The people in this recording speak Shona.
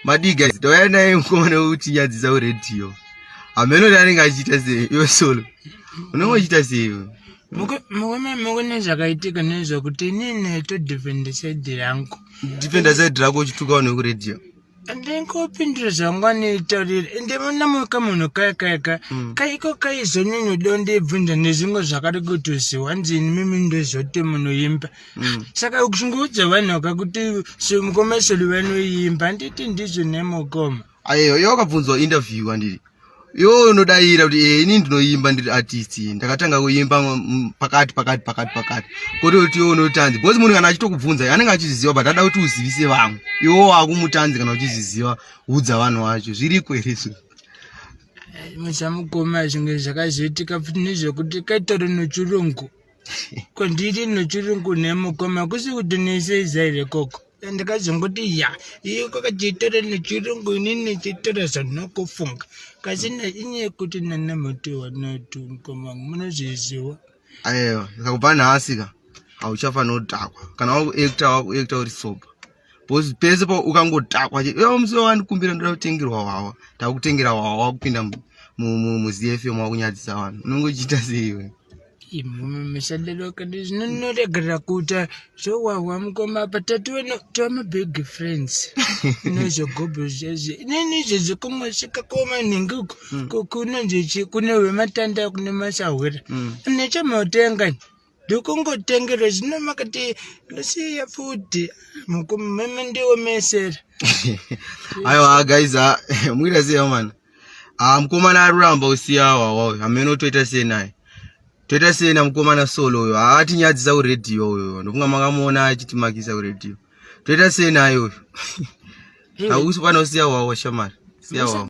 madii guys tauya naye mukomana wekuchinyadzisa kuredio hameno ti anenge achiita sei iwe solo unenge uchiita sei iwe mukune zvakaitika nezvekuti inini todefenda side rangu defenda side rako uchitukawo nekuredio ndingopindira zvangu anoitaurira ende munamuka munhu kaya kaya ka mm. kaiko kaizonini udondibvunza nezvimwe zvakari kutoziwa nzini mimi ndozoti munoimba mm. saka ukungoudza vanhu akakuti semukomeseri vanoimba handiti ndizvo nemukoma ayo yo akabvunzwa interview andiri yo unodayira kuti e ini ndinoimba ndiri artist ndakatanga kuimba pakati pakati pakati pakati koti kuti yo unotanzi because munhu kana achitokubvunza anenge achizviziva but ada kuti uzivise vamwe iwo wakumutanzi kana uchizviziva udza vanhu vacho zviriko here izvo muchamukoma zvinge zvakazoitika futi nezvekuti kaitore nechirungu ko ndiri nochiri kune mukoma kusi kuti neseiza here koko ndakazongoti ya iyo kwakatitora nechirungu inini titora zvanokufunga kasi nainyaya kuti nana mutiwa natu mukoma wangu munozviziwa ayewa ndikakubva nhasi ka hauchafanodhakwa kana wakuekta wakuekta uri sober bcause pese pa ukangotakwa che yo musi wandikumbira ndoda kutengerwa wawa takutengera wawa wakupinda muzfm wakunyadzisa vanhu unenge uchiita seiwe misadalokadi zvino ndinoregerera kuita zvowahwa mukoma apa tatiwena tova mabig friends inozvogobo zvazvo inini izvezvo kungosvika koma nhingi uku hmm. kunonzi kune wematanda kune masahwira hmm. nechamautenga ndokungotengera zvino makati ndosiya futi mumeme ndiomesera aiwa guys ah, muita sei man ah, mukomana aruramba usiya wawayo hamene utoita sei naye toita sei namukomana solo uyo haatinyadzisa ah, kuredhiyo uyo ndokunga makamuona achitimakisa kuredhiyo toita sei naye uyo hausi pana usiya wawa shamari siya wawa